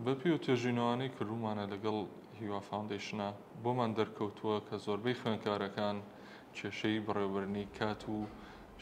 بەپێی و توێژینەوانەی کردوومانە لەگەڵ هیوا فاوندەیشنە بۆمان دەرکەوتووە کە زۆربەی خوێندکارەکان کێشەی بەڕێوەبردنی کات و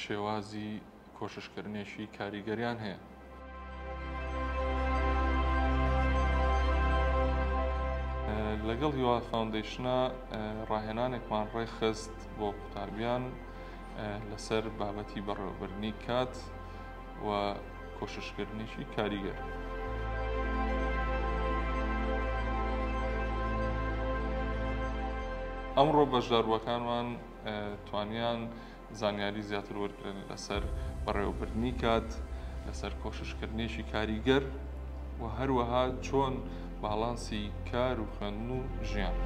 شێوازی کۆششکردنێکی کاریگەریان هەیە. لەگەڵ هیوا فاوندەیشنە ڕاهێنانێکمان ڕێکخست بۆ قوتابیان لەسەر بابەتی بەڕێوەبردنی کات، و کۆششکردنیشی کاریگەر. ئەمڕۆ بەشداربووەکانمان توانیان زانیاری زیاتر وەرگن لەسەر بەڕێوەبردنی کات لەسەر کۆششکردنیشی کاریگەر و هەروەها چۆن باڵانسی کار و خوێندن و ژیان.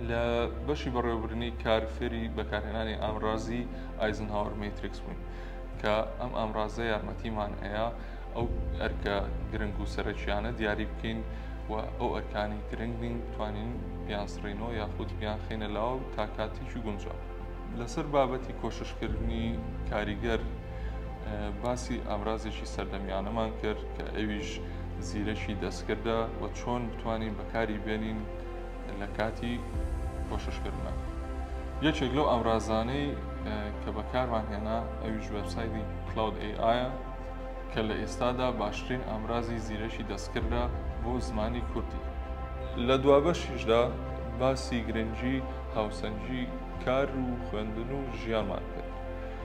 لە بەشی بەڕێوەبردنی کار فێری بەکارهێنانی ئامرازی ئایزنهاوەر مەتریکس بووین کە ئەم ئامرازە یارمەتیمان ئەیە ئەو ئەرکە گرنگ و سەرەکییانە دیاری بکەین و ئەو ئەرکانی گرنگ نین توانین بیان سڕینەوە یاخود بیان خینە لاو تا کاتێکی گونجاو لەسەر بابەتی کۆششکردنی کاریگەر باسی ئامرازێکی سەردەمیانەمان کرد کە ئەویش زیرەکی دەستکردە و چۆن بتوانین بەکاری بێنین لە کاتی کۆششکردە یەکێک لەو ئامرازانەی کە بەکارمان هێنا ئەویش وەبسایدی کلاود ئەیە کە لە ئێستادا باشترین ئامرازی زیرەکی دەستکردە بۆ زمانی کوردی لە دوابەشیشدا باسی گرنگی هاوسەنگی کار و خوێندن و ژیانمان کرد